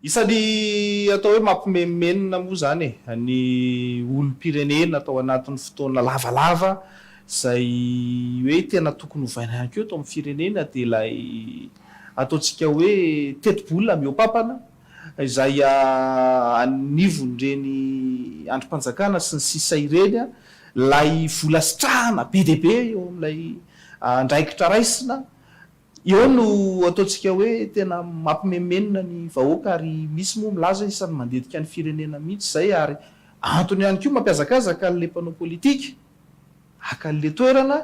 Isan'ny atao hoe mampimenomenona moa izany ny olom-pirenena atao anatin'ny fotoana lavalava izay hoe tena tokony hovaina ihany koa eto amin'ny firenena dia ilay ataontsika hoe tetibola mihoapampana izay anivon'ireny andrim-panjakana sy ny sisa ireny ilay vola sitrahana be dia be eo amin'ilay andraikitra raisina Eo no ataontsika hoe tena mampimemenona ny vahoaka ary misy moa milaza isan'ny mandetika ny firenena mihitsy izay ary antony ihany koa mampihazakazaka an'ilay mpanao politika haka an'ilay toerana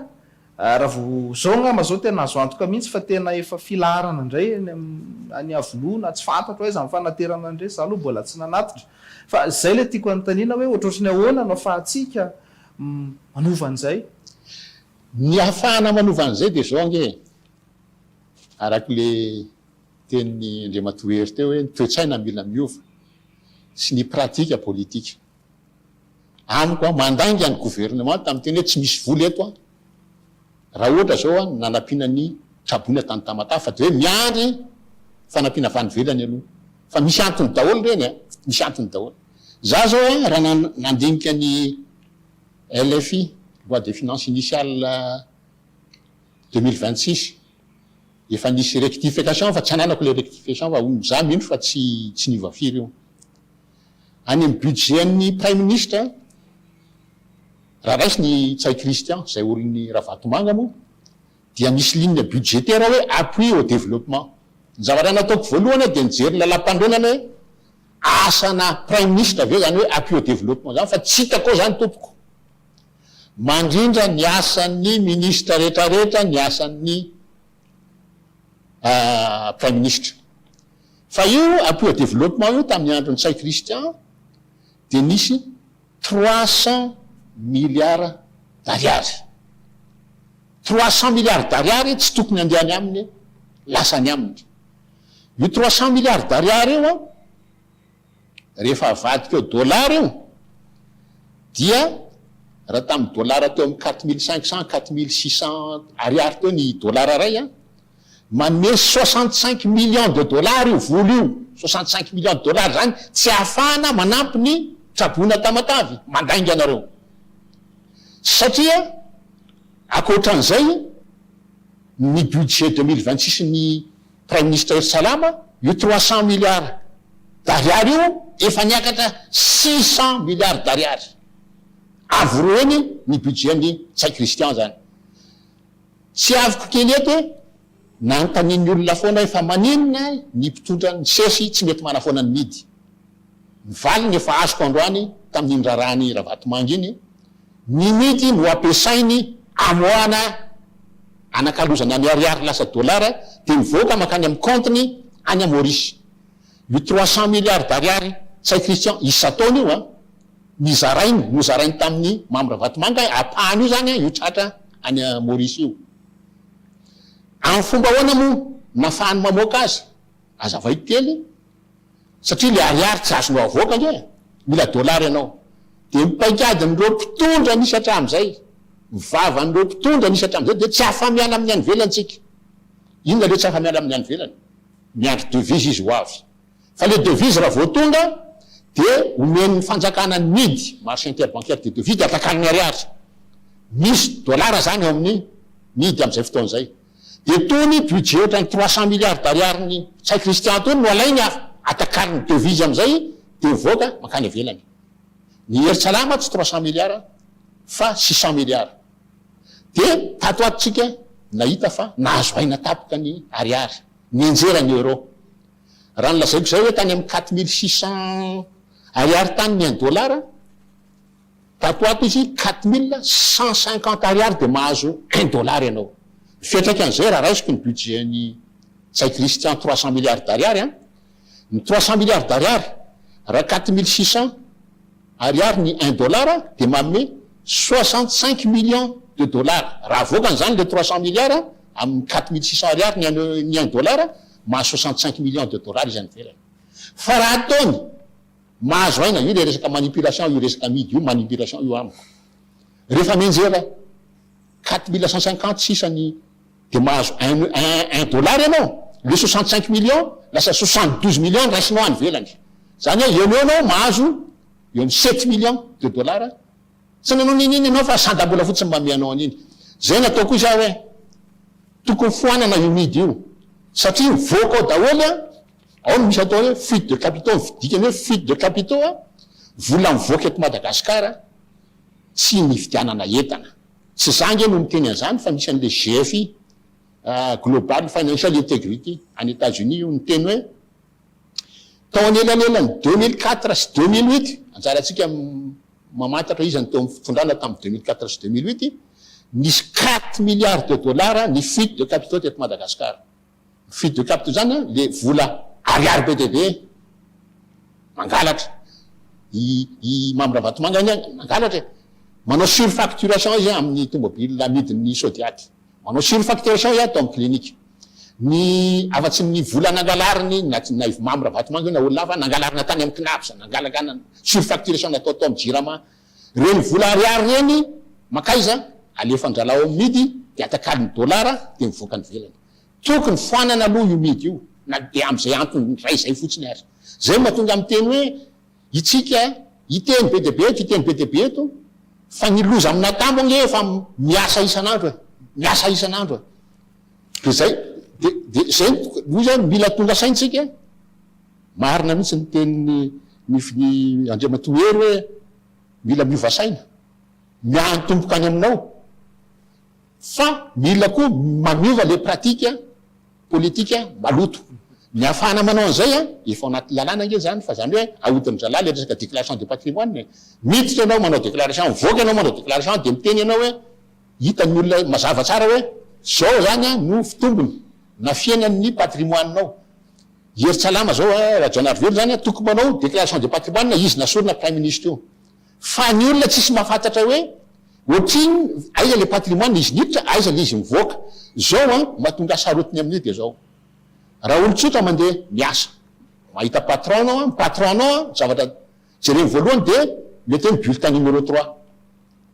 raha vao izao angamba izao tena azo antoka mihitsy fa tena efa filaharana indray any any Iavoloha na tsy fantatro aiza ny fanaterana an'ireny izaho aloha mbola tsy nanatitra fa izay ilay tiako anontaniana hoe ohatrohatry ny ahoana no afahantsika manova an'izay? Ny ahafahana manova an'izay dia izao ange e, araka ilay tenin'i Andriamatoa Hery teo hoe ny toe-tsaina mila miova sy ny pratika politika. Amiko an, mandainga ny governemanta miteny hoe tsy misy vola eto an, raha ohatra izao an, ny nanampiana ny traboina tany Tamatave fa dia hoe miandry fanampiana avy any ivelany aloha. Fa misy antony daholo ireny an, misy antony daholo. Izaho izao an, raha nandinika ny. LFI, Loi de Finances Initiale deux mille vingt six, efa nisy rectification fa tsy ananako ilay rectification fa za mino fa tsy tsy niova firy io. Any amin'ny budget an'ny Praiminisitra, raha raisin'i Ntsay Christian, izay orin'i Ravatomanga moa, dia misy ligne budgétaire hoe appui au développement. Ny zavatra nataoko voalohany dia nijery ny lalampanorenana hoe asana praiminisitra ve izany hoe appui au développement izany fa tsy hitako ao izany tompoko. Mandrindra ny asan'ny minisitra rehetrarehetra ny asan'ny praiminisitra. Fa io appui au développement io tamin'ny andron'i Ntsay Christian dia nisy trois cents milliards d'ariary. Trois cents milliards d'ariary tsy tokony handeha any aminy, lasa any aminy. Io trois cents milliards d'ariary io an, rehefa avadika ao dollars io, dia raha tamin'ny dollars teo amin'ny quatre mille cinq cents, quatre mille six cents ariary teo ny dollars iray an, Manome soixante cinq millions de dollars io vola io, soixante cinq millions de dollars izany tsy ahafahana manampy ny traboina Tamatave, mandainga anareo. Satria ankoatran'izay ny budget deux mille vingt six ny praiminisitra Hery Salama, io trois cents milliards d'ariary io efa niakatra six cents milliards d'ariary. Avo roa heny ny budget an'i Ntsay Christian izany. Tsiaviko kely eto e, nanontanian'ny olona foana hoe fa maninona ny mpitondra ny ces tsy mety manafoana ny midy? Ny valiny efa azoko androany tamin'iny raharahan'i Ravatomanga iny, ny midy no ampiasainy amoahana anakalozana ny ariary lasa dollars dia mivoaka mankany amin'ny compte-ny any Maurice. Io trois cents milliards d'ariary tsain'i Christian isan-taona io an! ny zarainy nozarainy tamin'ny Mamy Ravatomanga ampahany io izany io tratra any Maurice io. Amin'ny fomba ahoana moa no nahafahany mamoaka azy? Azavaiy kely e! Satria ilay ariary tsy azonao avoaka ange e! Mila dollars ianao. Dia ny paikadin'ireo mpitondra nisy hatramin'izay, ny vavan'ireo mpitondra nisy hatramin'izay dia tsy afa-miala amin'ny any ivelany isika. Inona re tsy afa-miala amin'ny any ivelany? Miandry devise izy ho avy. Fa le devise raha vao tonga dia omen'ny fanjakana mid, marché interbancaire des devises, dia atakan'ny ariary. Misy dollars zany ao amin'ny mid amin'izay fotoana izay. Dia tony budget ohatran'ny trois cents milliards d'ariarin'i Ntsay Christian tony no alainy ary atakariny devise amin'izay dia mivoaka mankany ivelany. Ny hery tsy alama tsy trois cents milliards fa six cents milliards. Dia tato ato tsika nahita fa nahazo aina tapoka ny ariary. Nianjera ny euro. Raha ny lazaiko izay hoe tany amin'ny quatre mille six cents ariary tany ny un dollar, tato ato izy quatre mille cent cinquante ariary dia mahazo un dollar ianao. Ny fiantraikan'izay raha raisiko ny budget-n'i Ntsay Christian trois cents milliards d'ariary an! Ny trois cent milliards d'ariary, raha quatre mille six cents ariary ny un dollar dia manome soixante cinq millions de dollars. Raha avoakany izany ilay trois cent milliards amin'ny quatre mille six cents ariary ny un ny un dollar, mahazo soixante cinq millions de dollars izy any ivelany. Fa raha ataony, mahazo aina, io ilay resaka manipulation io resaka amidy io, manipulation io amiko. Rehefa mianjera. quatre mille cent cinquante sisa ny dia mahazo un un dollars ianao le soixante cinq millions lasa soixante douze millions ny raisinao any ivelany zany hoe eo no eo anao mahazo eo ny sept millions de dollars tsy nanao n'inona ianao fa sandam-bola fotsiny mba ome anao an'iny zay no ataoko izy aho hoe tokony foanana io midy io satria mivoaka ao daholo a ao no misy atao hoe fuite de capitaux ny dikany hoe fuite de capitaux a vola mivoaka eto Madagasikara tsy nividianana entana. Tsy za ange no miteny an'izany fa misy an'ilay GFI, Global Financial Integrity, any Etats Unis io niteny hoe tao anelanelan'ny deux mille quatre sy deux mille huit, anjarantsika mamantatra iza no teo amin'ny fitondrana tamin'ny deux mille quatre sy deux mille huit, nisy quatre milliards de dollars ny fuite de capitaux teto Madagasikara. Mifidy ny capitaux zany an le vola ariary be dia be e! Mangalatra! I i Mamy Ravatomanga anie mangalatra e! Manao surfacturation izy amin'ny tomobile amidin'ny sodiady. Manao surfacturation izy ato amin'ny clinique. Ny afa tsy ny vola nangalariny na na i Mamy Ravatomanga io na olona hafa nangalarina tany amin'ny CNAPS, nangalagana surfacturation natao tao amin'ny jirama Ireny vola ariary ireny mankaiza? Alefan-dralao ao amin'ny midy dia atakalony dolara dia mivoaka any ivelany. Tokony foanana aloha io midy io na dia amin'izay antony iray izay fotsiny aza. Izay no mahatonga amin'ny teny hoe itsika hiteny be dia be eto, hiteny be dia be eto fa ny loza amin'ny natambo ange efa miasa isan'andro e! Miasa isan'andro e! Dia izay, dia, dia izay no, hoy izy aho, mila tonga saintsika, Marina mihitsy ny teniny ny Andriamatoa Hery hoe mila miova saina, miantomboka any aminao fa mila koa manova ilay pratique politique maloto. Ny ahafahana manao an'izay an, efa ao anatin'ny lalàna ange izany fa izany hoe ahodin'ny zalahy ilay resaka déclaration de patrimoine e. Miditra ianao manao déclaration, mivoaka ianao manao déclaration dia miteny ianao hoe hitan'ny olona mazava tsara hoe izao izany an no fitombony na fihenan'ny patrimoine-nao. Hery Tsalama zao a, Rajaonarivelo zany a toko manao déclaration de patrimoine izy nasorina prime ministre io. Fa ny olona tsisy mahafantatra hoe otrin aiza le patrimoine izy niditra aiza le izy mivoaka. Zao a mahatonga sarotiny amin'io de zao. Raha olon-tsotra mandeha miasa. Mahita patron anao a, ny patron anao a zavatra Jereo voalohany dia mety hoe ny bulletin numéro trois.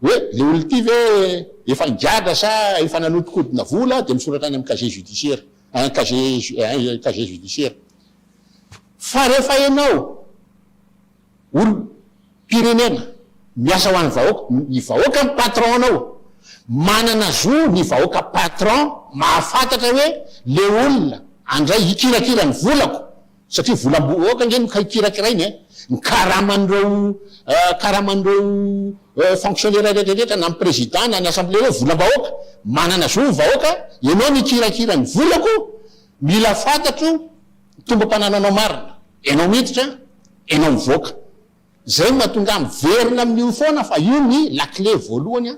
Hoe le olona ity ve efa nigadra sa efa nanodikodina vola dia misoratra any amin'ny casier judiciaire, an, casier ju, an, casier judiciaire. Fa rehefa ianao olom-pirenena miasa ho an'ny vahoaka, ny vahoaka no patron-nao, manana zo ny vahoaka patron mahafantatra hoe le olona andray hikirakira ny volako, Satria volam-bohoaka ange no kirakirainy e! Ny karaman'ireo karaman'ireo fonctionnaires rehetrarehetra na ny président na ny assemblée ireo volam-bahoaka! Manana zo ny vahoaka ianao no hikirakira ny volako! Mila fantatro ny tombam-panananao marina! Ianao miditra, ianao mivoaka! Izay no mahatonga ahy miverina amin'io foana fa io ny lakile voalohany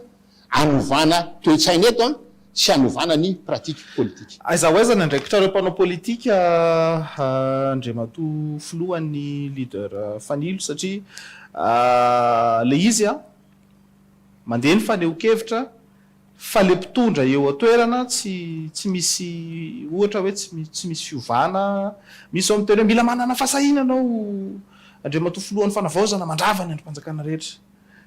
anovana toe-tsaina eto sy anovana ny pratique politique. Aiza ho aiza ny andraikitrareo mpanao politika Andriamatoa Filoha ny Leader Fanilo satria ilay izy mandeha ny fanehoan-kevitra, Fa le mpitondra eo toerana tsy tsy misy ohatra hoe tsy tsy misy fiovana, misy zao miteny hoe mila manana fahasahiana anao Andriamatoa filohan'ny fanavaozana mandrava ny andrim-panjakana rehetra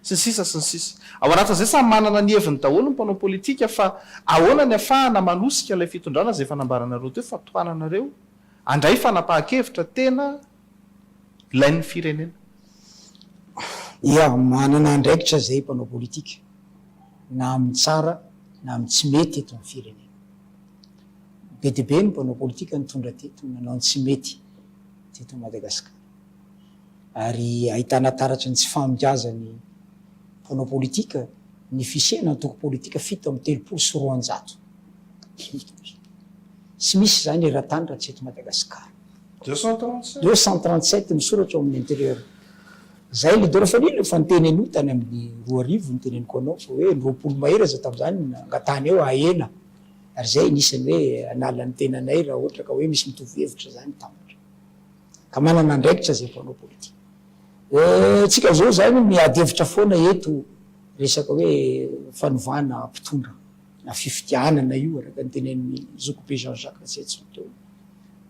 sy ny sisa sy ny sisa. Ao anatin'izay samy manana ny heviny daholo ny mpanao politika fa ahoana ny afahana manosika ilay fitondrana izay efa nambaranareo teo fa tohananareo handray fanapahan-kevitra tena ilain'ny firenena? Ia, manana andraikitra izay mpanao politika, na amin'ny tsara na amin'ny tsy mety eto amin'ny firenena. Be dia be ny mpanao politika nitondra teto nanao ny tsy mety teto Madagasikara. Ary ahitana taratry ny tsy faham-biazan'ny mpanao politika ny fisiana antoko politika fito amby telopolo sy roanjato. Tsy misy izany eran-tany raha tsy eto Madagasikara. Deux cent trente sept. Deux cent trente sept ny soratra ao amin'ny intérieur. Zay leader fa nino fa niteny an'io tany amin'ny roa arivo niteneniko anao fa hoe roapolo mahery aza tamin'izany no nangatahany hoe ahena ary zay anisan'ny hoe hanala ny tenanay raha ohatra ka hoe misy mitovy hevitra zany tampitra ka manana andraikitra zay mpanao politika. Eh, tsika zao zany miady hevitra foana eto resaka hoe fanovana mpitondra. na fifidianana io araka ny tenenin'ny zokibe Jean Jacques Ratsiatson teo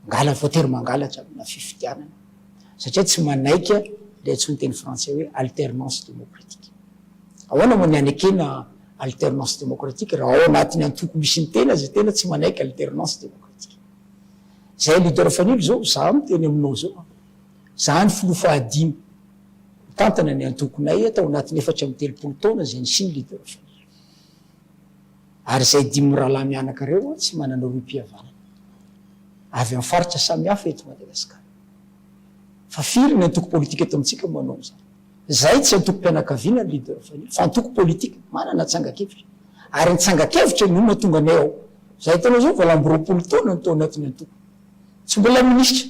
mangala voatery mangalatra amina fifidianana satria tsy manaiky le antsoin'ny teny frantsay hoe alternance démocratique ahoana moa ny anekena alternance démocratique raha ao anatin'ny antoko misy ny tena zay tena tsy manaiky alternance démocratique zay leader fanilo zao za miteny aminao zao za ny filoha fahadimy mitantana ny antokonay atao anatin'ny efatra amby telopolo taona zay ny siny leader fanilo Ary izay dimy rahalahy mianaka ireo moa tsy manana rohim-pihavanana. Avy amin'ny faritra samihafa eto Madagasikara. Fa firy ny antoko politika eto amintsika no manao an'izany? Izay tsy antokom-pianakaviana ny leader Fanilo, fa antoko politika, manana tsangan-kevitra. Ary ny tsangan-kevitra no mahatonga anay ao. Izay ataonao izao, valo amby roapolo taona no tao anatin'ny antoko. Tsy mbola minisitra,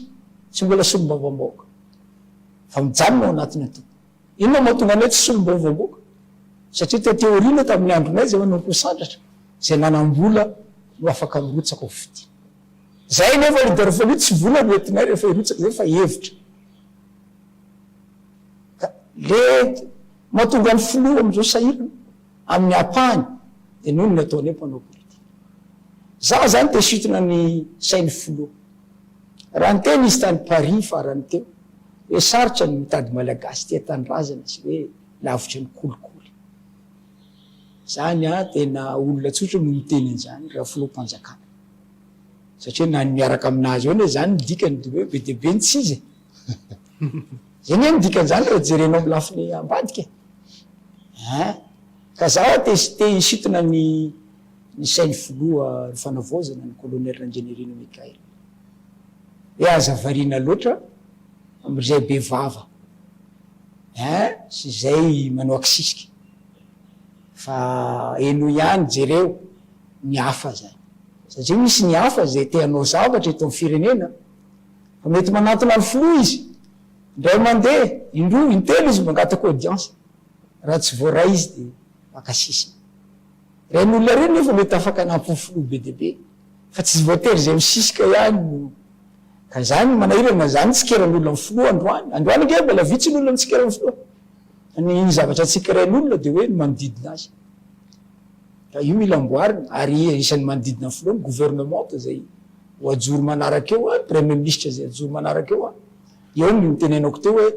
tsy mbola solombavambahoaka. Fa mijanona ao anatin'ny antoko. Inona no mahatonga anay tsy solombavao koa? Satria tety aoriana tamin'ny andronay izay manao akoho sandratra, izay nanam-bola no afaka mirotsaka ho fitia. Izahay anefa ry Darfali tsy vola no entinay rehefa hirotsaka izay fa hevitra. Ka le mahatonga ny filoha amin'izao sahirana. amin'ny ampahany dia noho ny ataon'io mpanao politika. Za zany te sitona ny sain'ny filoha. Raha niteny izy tany Paris farany teo hoe sarotra ny mitady malagasy tia tanindrazana sy hoe lavitra ny kolikoly. Zany an tena olona tsotra no miteny an'zany raha filoham-panjakana. Satria na ny miaraka aminazy eo anie zany ny dikany dia hoe be dia be ny tsy izy e. Zay nge ny dikan'izany raha jerenao amin'ny lafiny ambadika e. Ein! Ka za te te hisintona ny ny sain'ny filoha ny fanavaozana ny Colonel Randrianirina Mickaël. Hoe aza variana loatra amin'izay be vava ein sy izay manao akisisika fa henoy ihany jereo ny hafa zany satria misy ny hafa zay te hanao zavatra eto amin'ny firenena. fa mety manantona ny filoha izy indray mandeha, indroa, intelo izy mangataka audience, raha tsy voaray izy dia maka sisiny. Ireny olona ireny nefa mety afaka hanampy ny filoha be dia be fa tsy voatery izay misisika ihany no Ka izany manahirana izany nitsikera ny olona ny filoha androany, androany ange mbola vitsy ny olona nitsikera ny filoha fa ny zavatra tsikerain' olona dia hoe ny manodidina azy ka io mila amboarina ary isan'ny manodidina ny filoha ny gouvernementa izay Ho ajoro manaraka eo an, Premier Ministra izay hajoro manaraka eo an, eo ny notenenako teo hoe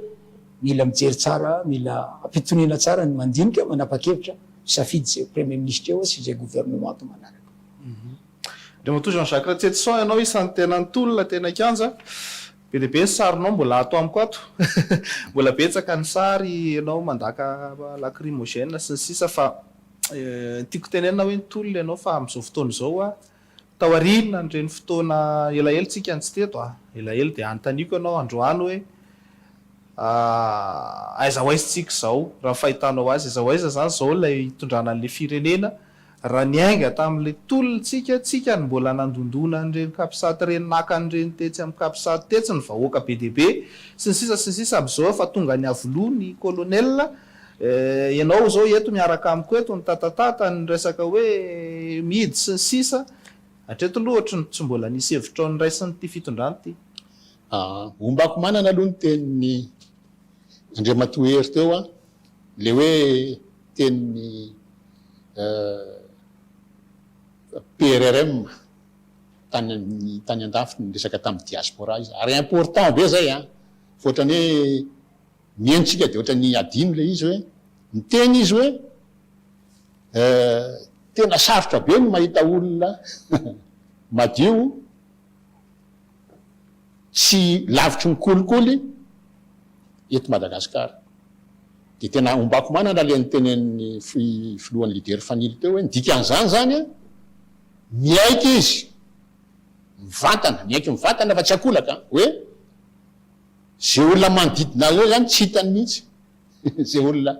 mila mijery tsara, mila ampitoniana tsara ny mandinika, manapa-kevitra, misafidy izay ho Premier Ministra eo sy izay Gouvernemanta manaraka. Andriamatoa Jean Jacques Ratsietison ianao isan'ny tena nitolona teny an-kianja, be dia be ny sarinao mbola ato amiko ato, mbola betsaka ny sary ianao mandaka lacrymogène sy ny sisa fa tiako tenenina hoe nitolona ianao fa amin'izao fotoana izao Taorian'ireny fotoana elaela tsika no tsy teto a, elaela, dia anontaniko ianao androany hoe aiza ho aiza tsika izao raha ny fahitanao azy, aiza ho aiza izany izao ilay hitondrana an'ilay firenena raha niainga tamin'ilay tolona tsika, tsika no mbola nandondona an'ireny capsat ireny naka an'ireny tetsy amin'ny capsat tetsy ny vahoaka be dia be sy ny sisa sy ny sisa, amin'izao efa tonga niavoloha ny colonel, Ianao izao eto miaraka amiko eto nitatatata ny resaka hoe mihidy sy ny sisa, hatreto aloha ohatry ny tsy mbola nisy hevitrao noraisin'ity fitondrana ity. Hombako manana aloha ny tenin'i Andriamatoa Hery teo, ilay hoe tenin'ny PRRM tany tany an-dafy niresaka tamin'ny diaspora izy ary important be izay an! Fa ohatran'ny hoe. Mihaino tsika dia ohatran'ny hadino ilay izy hoe miteny izy hoe eh tena sarotra be ny mahita olona madio tsy lavitry ny kolikoly eto Madagasikara. Dia tena ombako manana ilay nitenenin'ny filohan'ny leader Fanilo teo hoe ny dikan'izany izany an, miaiky izy mivantana, miaiky mivantana fa tsy ankolaka an, hoe Izay olona manodidina anao izany tsy hitany mihitsy, izay olona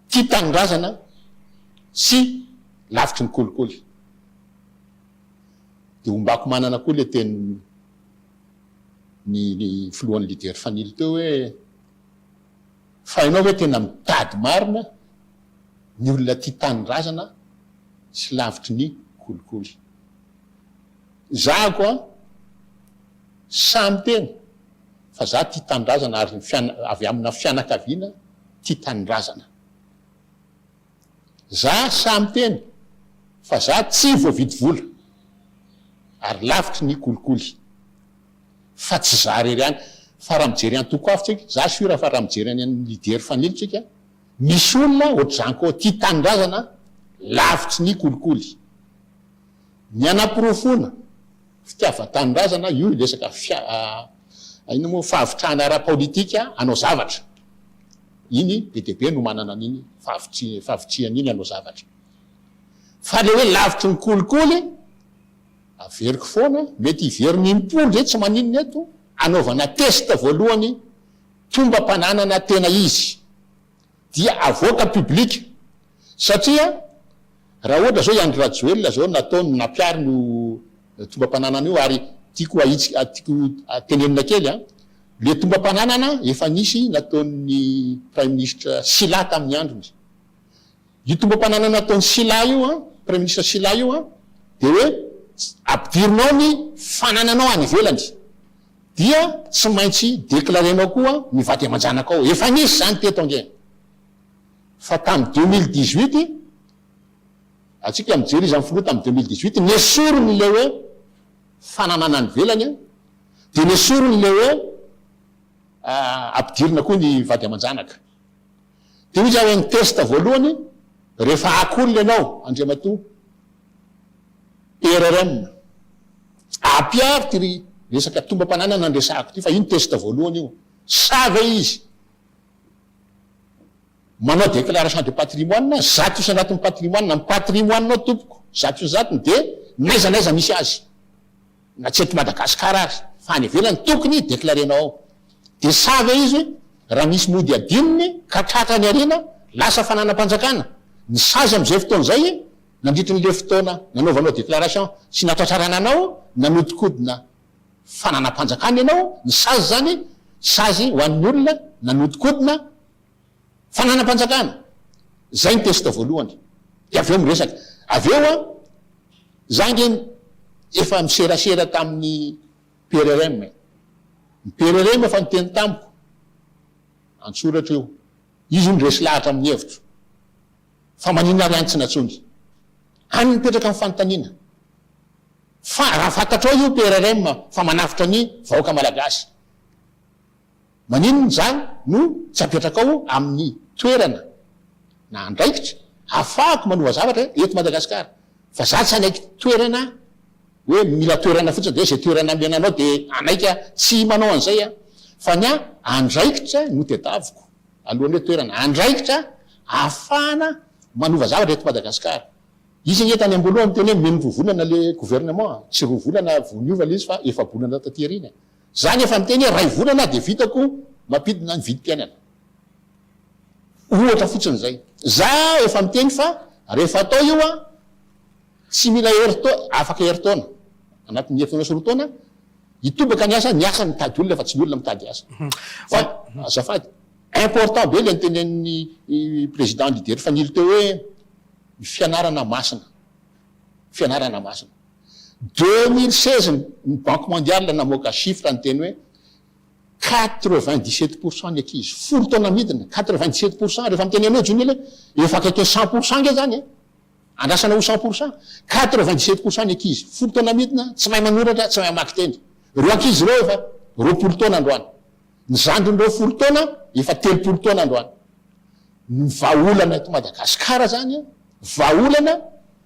tia tanindrazana sy lavitry ny kolikoly. Dia hombako manana koa ilay tenin'ny ny filohan'ny leader fanilo teo hoe fa ianao ve tena mitady marina ny olona tia tanindrazana sy lavitry ny kolikoly. Zahako an! Samy teny fa za tia tanindrazana ary avy amina fianakaviana tia tanindrazana. Za samy teny fa za tsy voavidy vola ary lavitry ny kolikoly fa tsy za rery any fa raha mijery antoko hafa tsika za sur fa raha mijery any an'ny leader fanilo tsika misy olona ohatr'izany koa tia tanindrazana lavitry ny kolikoly. Ny hanaporofoana fitiavan-tanindrazana, io resaka inona moa, fahavitrihana ara-paolitika hanao zavatra. Iny be dia be no manana an'iny fahavitrihana iny hanao zavatra. Fa ilay hoe lavitry ny kolikoly, averiko foana, mety hiverina im-polo izay tsy maninona eto, hanaovana test voalohany tombam-pananana tena izy. dia avoaka public satria raha ohatra zao i Andry Rajoelina zao nataony nampiariny io tombam-pananana io ary tiako ahitsy tiako tenenina kely an le tombam-pananana efa nisy nataon'ny praiministra Sila tamin'ny androny Io tombam-pananana nataon'i Sylla io an, Praiministra Sylla io an, dia hoe ampidirinao ny fanananao any ivelany, dia tsy maintsy declarenao koa ny vady aman-janakao. Efa nisy izany teto ange, fa tamin'ny deux mille dix-huit, antsika mijery iza ny filoha tamin'ny deux mille dix-huit, nesoriny ilay hoe fananana any ivelany an, dia nesoriny ilay hoe ampidirina koa ny vady aman-janaka. Dia hoy Yaveh ny test voalohany rehefa aky olona ianao Andriamatoa ERRM. Ampiaro ity resaka tombam-pananana nandresahako ity fa io ny test voalohany io. Sa ve izy manao déclaration de patrimoine zato isan-jatony patrimoine, ny patrimoine-nao tompoko zato isan-jatony dia n'aiza n'aiza misy azy. na tsy eto Madagascar aza fa any ivelany tokony declarenao ao de sa ve izy raha misy mody adinony ka tratra any arina lasa fananam-panjakana ny sazy amizay fotoana izay nandritry ny le fotoana nanaovanao declaration sy natratrarana anao nanodikodina fananam-panjakana ianao ny sazy zany sazy ho an'ny olona nanodikodina Fananam-panjakana. Zay ny test voalohany. Dia avy eo miresaka. Avy eo an, za ange efa miserasera tamin'ny PRRM e. Ny PRRM efa niteny tamiko, an-tsoratra io. Izy hono resy lahatra amin'ny hevitro. Fa maninona ary any tsy nantsoiny? Any no mipetraka ny fanontaniana. Fa raha fantatrao io PRRM fa manavotra ny vahoaka malagasy. Maninona izaho no tsy apetraka ao amin'ny toerana na andraikitra ahafahako manova zavatra eto Madagasikara fa izaho tsy hanaiky toerana hoe mila toerana fotsiny dia hoe izay toerana amena anao dia hanaiky aho tsy manao an'izay aho fa ny ahy andraikitra no tedaviko alohan'ny hoe toerana andraikitra ahafahana manova zavatra eto Madagasikara izy ange tany amboalohany teny hoe meno roa volana le gouvernement tsy roa volana vao niova le izy fa efa-bolana taty aoriana Za ny efa niteny hoe ray volana dia vitako mampidina ny vidim-piainana. Ohatra fotsiny zay. Za efa miteny fa rehefa atao io an, tsy mila herin-taona, afaka herin-taona, anatin'ny herin-taona sy roa taona, hitobaka ny asa, ny asa no mitady olona fa tsy ny olona mitady asa. Fa azafady, important be ilay nitenenin'ny président leader Fanilo teo hoe ny fianarana masina. fianarana masina. Deux mille seize ny banque mondiale namoaka chiffre niteny hoe quatre vingt dix sept pour cent ny ankizy folo taona midina quatre vingt dix sept pour cent rehefa miteny an'io John le efa akaiky ny cent pour cent nge zany e andrasana ho cent pour cent quatre vingt dix sept pour cent ny ankizy folo taona midina tsy mahay manoratra tsy mahay mamaky teny reo ankizy reo efa roapolo taona androany Ny zandrin'ireo folo taona efa telopolo taona androany. Ny vahaolana eto Madagasikara izany an, vahaolana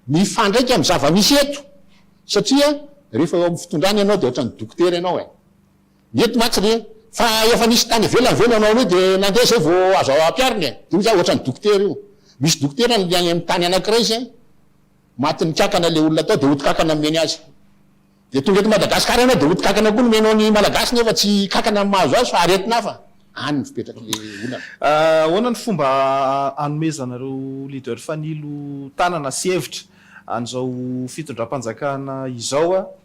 mifandraika amin'ny zava-misy eto, satria rehefa eo amin'ny fitondrana ianao dia ohatran'ny dokotera ianao e! Mety mantsy re fa efa nisy tany ivelany ve nanao an'io dia nandeha izay vao azo ampiharina e! Io izany ohatran'ny dokotera io. Misy dokotera any amin'ny tany anankiray izay, matin'ny kankana ilay olona tao dia odi-kankana nomeny azy. Dia tonga eto Madagascar ianao dia ho tkankana koa ny menao ny Malagasy nefa tsy kankana ny mahazo azy fa aretina hafa any no fipetraky le olana. Ahoana ny fomba anomezana ireo leader fanilo tanana sy hevitra an'izao fitondram-panjakana izao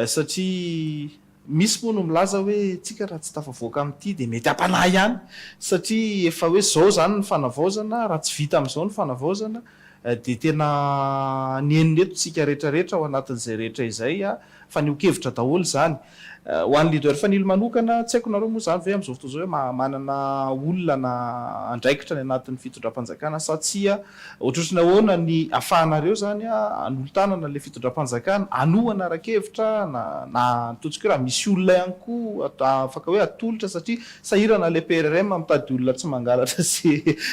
satria misy moa no milaza hoe tsika raha tsy tafavoaka amin'ity dia mety hampanahy ihany satria efa hoe izao izany ny fanavaozana raha tsy vita amin'izao ny fanavaozana dia tena nihenona eto tsika rehetra rehetra ao anatin'izay rehetra izay fanehoan-kevitra daholo izany. Ho an'ny leader Fanilo manokana, tsy haiko nareo moa izany ve amin'izao fotoana izao hoe manana olona andraikitra any anatin'ny fitondram-panjakana sa tsia, ohatrohatry ny ahoana ny afahanareo izany anolo-tanana ilay fitondram-panjakana, hanohana ara-kevitra na atao tsika hoe raha misy olona ihany koa afaka hoe atolotra satria Sahirana le PRRM mitady olona tsy mangalatra sy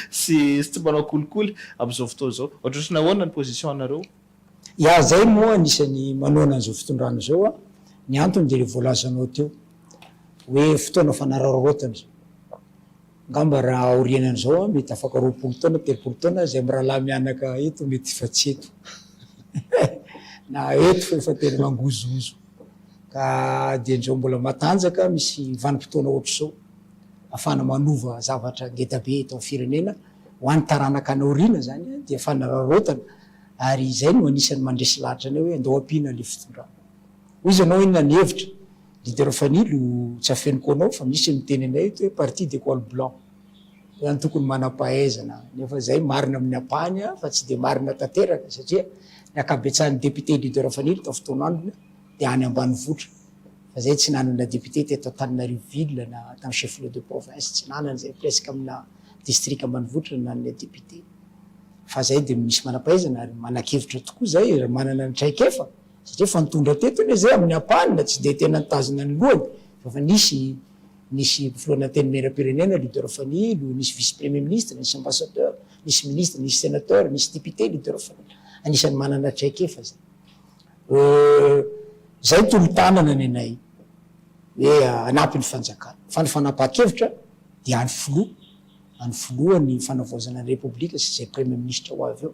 sy tsy mpanao kolikoly amin'izao fotoana izao. Ohatrotrany ahoana ny position anareo? Iah izay moa anisany manohana an'izao fitondrana izao an, ny antony dia ilay voalazanao teo hoe fotoana fanararaotana izao. Angamba raha aorianan'izao an, mety afaka roapolo taona, telopolo taona izay mirahalahy mianaka eto mety efa tsy eto na eto efa tena mangozohozo. Ka dia injao mbola matanjaka misy vanim-potoana ohatr'izao afahana manova zavatra ngeda be eto amin'ny firenena ho an'ny taranaka any aoriana izany dia fanararaotana ary izay no anisan'ny mandresy lahatra anay hoe andao ampiana ilay fitondrana. Hoy izy anao inona ny hevitra? Leader Fanilo, tsy afeniko ho anao fa misy ny miteny anay eto hoe parti de col blanc. ny antokony manampahaizana nefa izay marina amin'ny ampahany fa tsy dia marina tanteraka satria ny ankabetsahan'ny députés leader Fanilo tao Fitoanandrina dia any ambanivohitra fa izay tsy nanana députés teto Antananarivo ville na tany chef lieu de province tsy nanana izay presque amina district ambanivohitra no nanana députés fa izay dia misy manampahaizana ary manakevitra tokoa izay raha manana ny traikefa satria efa nitondra teto anie izay amin'ny ampahany na tsy dia tena nitazona ny lohany fa efa nisy Nisy mpiforonana antenimieram-pirenena, leader famille, lo, nisy vice premier ministre, nisy ambassadeur, nisy ministre, nisy senateur, nisy député, leader famille. Anisan'ny manana traikefa zay. Euh, zay tolo-tanana ny anay hoe hanampy ny fanjakana. Fa ny fanapahan-kevitra dia an'ny filoha, an'ny filoha ny fanavaozana ny repoblika sy izay premier ministre ho avy eo.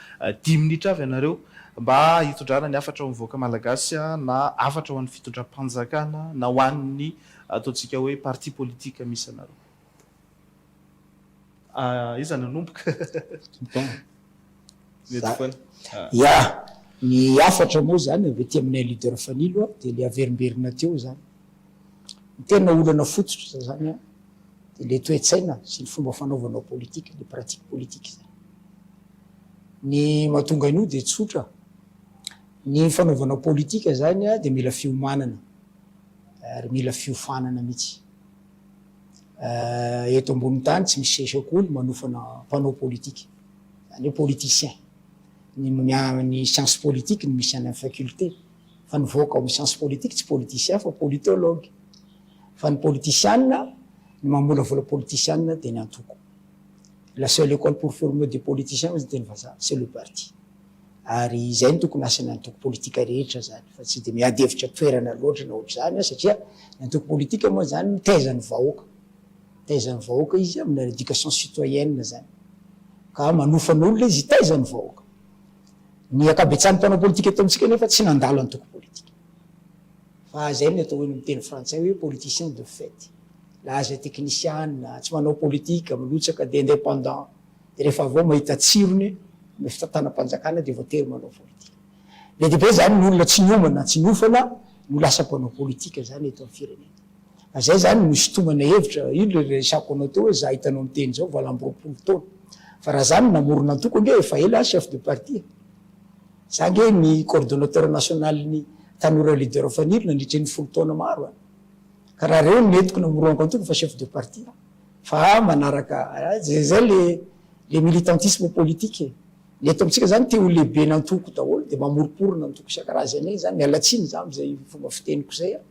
Dimy minitra avy ianareo mba hitondrana ny hafatra ho an'ny vahoaka malagasy na hafatra ho an'ny fitondram-panjakana na ho an'ny ataontsika hoe parti politique misy anareo. Aiza no hanomboka? Bon. Mety foana. Ya. Ny hafatra moa izany avy aty aminay leader Fanilo dia ilay averimberina teo izany. Ny tena olana fototra izany dia ilay toe-tsaina sy ny fomba fanaovanao politique, ilay pratique politique izany. Ny mahatonga an'io dia tsotra, ny fanaovana politika izany dia mila fiomanana ary mila fiofanana mihitsy. Eto ambonin'ny tany tsy misy sesy akoho ny manofana mpanao politika, izany hoe politiciens. Ny amin'ny amin'ny science politique no misy any amin'ny faculté, fa ny vaoka ao amin'ny science politique tsy politiciens fa politologues. Fa ny politisiana, ny mamolavola politisiana dia ny antoko. La seule école pour former des politiciens hoy ny teny vazaha, c'est le parti. Ary izay no tokony asan'ny antoko politika rehetra izany fa tsy dia miady hevitra toerana loatra na ohatr'izany an, satria ny antoko politika moa izany mitaiza ny vahoaka, mitaiza ny vahoaka izy amina éducation citoyenne izany, ka manofa ny olona izy hitaiza ny vahoaka. Ny ankabetsahan'ny mpanao politika eto amintsika anefa tsy nandalo antoko politika. Fa izay no atao hoe ny miteny frantsay hoe politicien de faite. Laza teknisiana, tsy manao politika, milotsaka dia independant. Dia rehefa avy eo mahita tsirony ny fitantanam-panjakana dia voatery manao politika. Be dia be izany ny olona tsy niomana na tsy niofana no lasa mpanao politika izany eto amin'ny firenena. Fa izay izany no isintomana hevitra, io ilay resako anao teo hoe izaho hitanao miteny izao valo amby roapolo taona. Fa raha izaho no namorona antoko ange efa ela aho chef de parti e. Za ange ny coordonnateur national ny tanora leader fanilo nandritry ny folo taona maro an! Ka raha reo no entiko na morohako antoko fa chef de parti aho fa aho manaraka zay zay le le militantisme politique e! Ny eto amintsika zany te ho lehiben'antoko daholo de mamoriporona antoko isan-karazany egny zany, miala tsiny za am'zay fomba fiteniko zay an!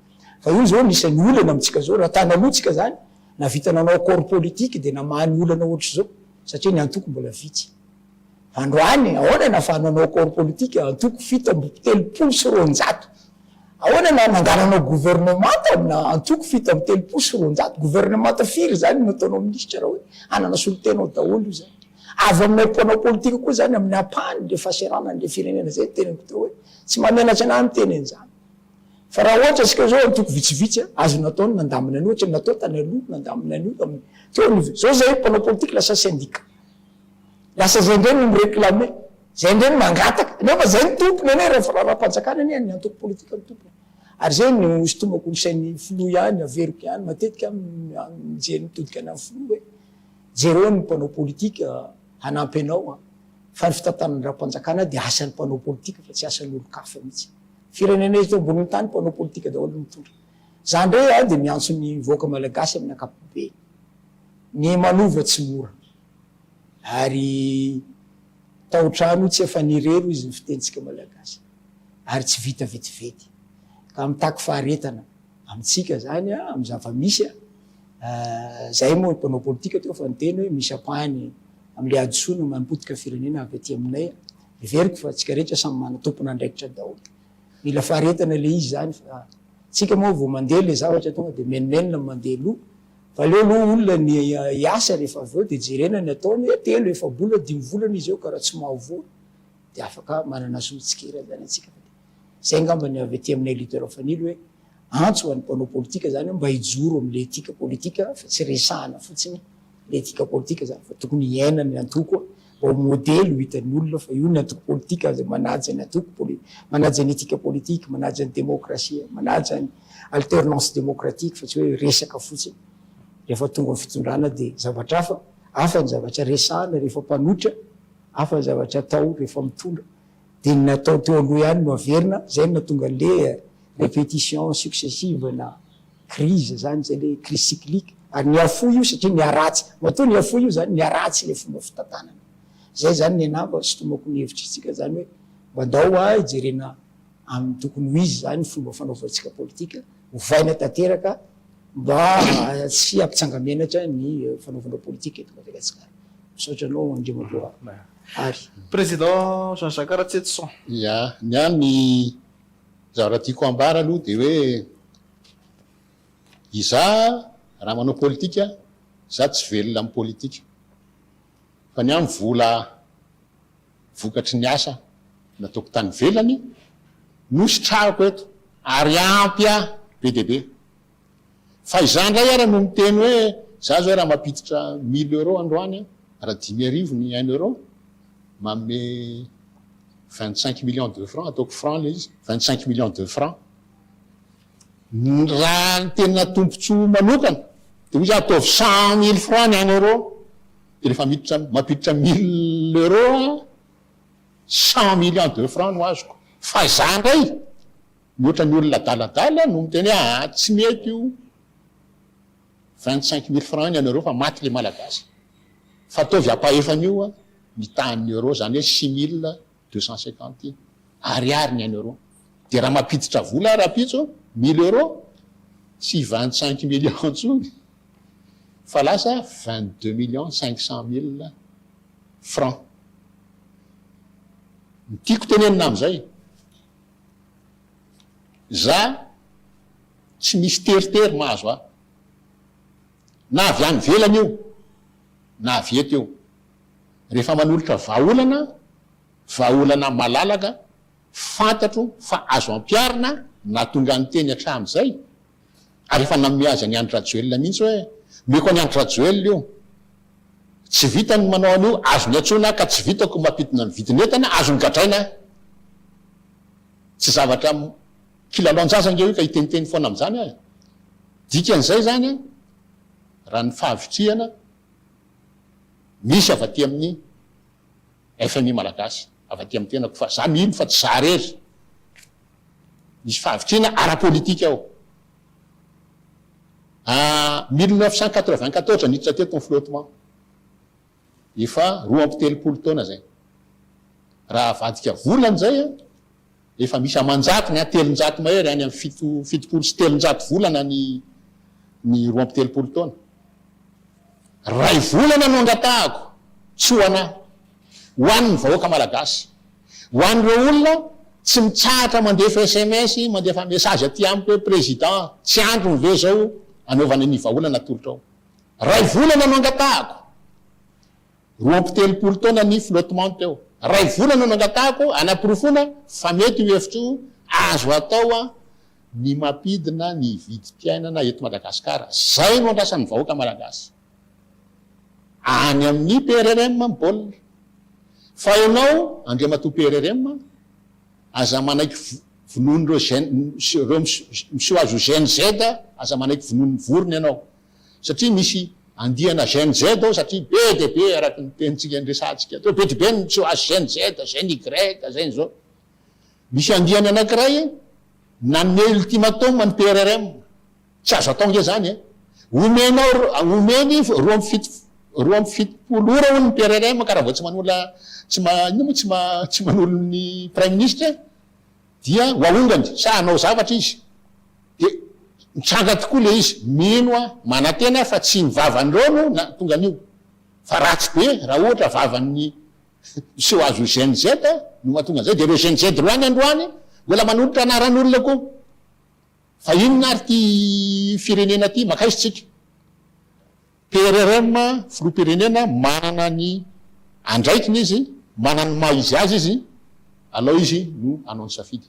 Fa io zao anisan'ny olana amintsika zao, raha tany aloha tsika zany nahavita nanao accord politique de namaha ny olana ohatr'izao satria ny antoko mbola vitsy. Androany, ahoana na fa nanao corps politique antoko fito amby telopolo sy roanjato? Ahoana na nangalanao gouvernemanta amina antoko fito amby telopolo sy roanjato? Gouvernemanta firy izany no ataonao minisitra raha hoe hanana solontena ao daholo io izany? Avy aminay mpanao politika koa izany amin'ny ampahany le fahaserana an'le firenena izay ny teneniko teo hoe tsy mamenatra anah miteny an'izany. Fa raha ohatra antsika izao antoko vitsivitsy an, azo natao ny nandamina ny ohatra ny natao tany aloha, nandamina an'io tamin'ny teo anivo. Izao zahay mpanao politika lasa syndicat. Lasa zay ndray no mi-reclamer, zay ndray no mangataka, nefa zay ny tompony anie raha firaharam-panjakana anie ny antoko politika no tompony. Ary zay no sintomako ny sain'ny filoha ihany, averiko ihany matetika aho mijery mitodika any amin'ny filoha hoe jereo ny mpanao politika hanampy anao an! fa ny fitantanandram-panjakana dia asan'ny mpanao politika fa tsy asan'olon-kafa mihitsy. Firenena eto ambonin'ny tany mpanao politika daholo no mitondra. Za ndray an dia miantso ny vahoaka malagasy amin'ny ankapobeny, ny manova tsy mora. Ary tao trano tsy efa nirery izy ny fitenintsika malagasy ary tsy vita vetivety ka mitaky faharetana amintsika zany amin'ny zava-misy zay moa mpanao politika teo fa niteny hoe misy ampahany amin'ilay hadisoana manompotika firenena avy aty aminay heveriko fa antsika rehetra samy manana tompon'andraikitra daholo mila faharetana ilay izy zany fa antsika moa vao mandeha ilay zavatra tonga dia menomenona mandeha aloha Aleo aloha olona ny hiasa rehefa avy eo dia jerena ny ataony hoe telo, efa-bolana, dimy volana izy eo ka raha tsy mahavoa dia afaka manana soa mitsikera izany antsika fa dia izay angamba ny avy aty aminay leader Fanilo hoe antso ho an'ny mpanao politika izany mba hijoro amin'ilay etika politika fa tsy resahana fotsiny ilay etika politika izany fa tokony hiaina ny antoko mba ho modely ho hitan'ny olona fa io ny antoko politika izay manaja ny antoko, manaja ny etika politika, manaja ny demokrasia, manaja ny. alternance démocratique fa tsy hoe resaka fotsiny. Rehefa tonga ny fitondrana dia zavatra hafa, hafa ny zavatra resahana rehefa mpanotra, hafa ny zavatra atao rehefa mitondra. Dia ny natao teo aloha ihany no averina, izay no nahatonga an'le répétition successive na crise izany, izay le crise cyclique. Ary nihafoy io satria niharatsy, matoa nihafoy io izany, niharatsy ilay fomba fitantanana. Izay izany ny anah mba sitomako ny hevitr'itsika izany hoe mba ndao ho'a hijerena, amin'ny tokony ho izy izany ny fomba fanaovantsika politika, ovaina tanteraka mba tsy hampitsanga-menatra ny fanaovanao politika eto Madagasikara. Misaotra anao Andriamatoa Hary. Président Jean Jacques Ratsetoson. Ia, ny ahy ny zavatra tiako hambara aloha dia hoe izaho raha manao politika, izaho tsy velona amin'ny politika. fa ny ahy vola vokatry ny asa nataoko tany ivelany no sitrahako eto ary ampy ahy be dia be fa izaho indray ary no miteny hoe za zao raha mampiditra mille euros androany raha dimy arivo ny un euro manome vingt cinq millions de francs ataoko francs ilay izy vingt cinq millions de francs Raha ny tena tombotsoa manokana dia misy ataovy cent mille francs ny any euro dia rehefa miditra mampiditra mille euro aho cent millions de francs no azoko fa za indray mihoatra ny olona adaladala no miteny hoe aa tsy mety io vingt cinq mille francs ny any euro fa maty le malagasy fa ataovy ampahefa an'io mitaha ny euro zany hoe six mille deux cent cinquante ariary ny un euro dia raha mampiditra vola aho rahampitso mille euro tsy vingt cinq millions intsony fa lasa vingt deux millions cinq cent mille francs ny tiako tenenina amin'izay za tsy misy teritery mahazo ahy na avy any velany io na avy eto io rehefa manolotra vahaolana, vahaolana malalaka fantatro fa azo ampiharina nahatonga an'i Teny hatramin'izay, ary efa nanome azy an'i Andry Rajoelina mihitsy hoe omeko an'i Andry Rajoelina io, tsy vitany ny manao an'io, azony antsoina ka tsy vitako ny mampidina ny vidin'entana, azony gadraina, tsy zavatra kilalaon-jaza ange io ka hiteniteny foana amin'izany aho e! Dikan'izay izany an, raha ny fahavitrihana misy avy aty amin'ny fmi malagasy avy aty amin'ny tenako fa za mino fa tsy za rery misy fahavitrina ara politika ao ah, mille neuf cent quatre vingt quatorze niditra teto ny flottement efa roa amby telopolo taona zay raha avadika volana zay a Efa misy aman-jatony an, telonjato mahery, any amin'ny fito, fitopolo sy telonjato volana ny ny roa amby telopolo taona. Iray volana no angatahako, tsy ho anà, ho an'ny vahoaka malagasy. Ho an'ireo olona tsy mitsahatra mandefa sms, mandefa message aty amiko hoe Président, tsy androny ve izao anaovana ny vahaolana atolotrao. Iray volana no angatahako. Roa amby telopolo taona ny flottement teo. Iray volana no angatahako hanaporofoana fa mety io hevitra io, azo atao ny mampidina ny vidim-piainana eto Madagasikara. Izay no andrasan'ny vahoaka Malagasy. Any amin'ny PRRM ny baolina. Fa ianao Andriamatoa PRRM, aza manaiky vonoan'ireo jeunes, ireo miseho azy ho GNZ, aza manaiky vonoan'ny vorona ianao. satria misy andiana Gen Z ao satria be dia be araka ny tenintsika niresahantsika teo be dia be ny miseho azy Gen Z, Gen Y, Gen zao. Misy andiany anankiray nanome ultimatum an'ny PRRM, tsy azo atao ange zany e! Omenao omeny roa amby fito roa amby fitopolo ora hono ny PRRM ka raha vao tsy manola tsy ma inona moa tsy ma tsy manolo ny praiminisitra e! Dia ho aongany sa hanao zavatra izy. Dia nitranga tokoa ilay izy. Mino aho, manantena aho fa tsy ny vavan'ireo no nahatonga an'io. Fa ratsy be raha ohatra vavan'ny miseho azy io Gen Z no mahatonga an'izay. Dia ireo Gen Z ireo any androany mbola manolotra anaran'olona koa. Fa inona ary ity firenena ity? Makaiza isika? PRRM, filoham-pirenena, manana ny andraikiny izy, manana ny maha izy azy izy, alao izy no hanao ny safidy.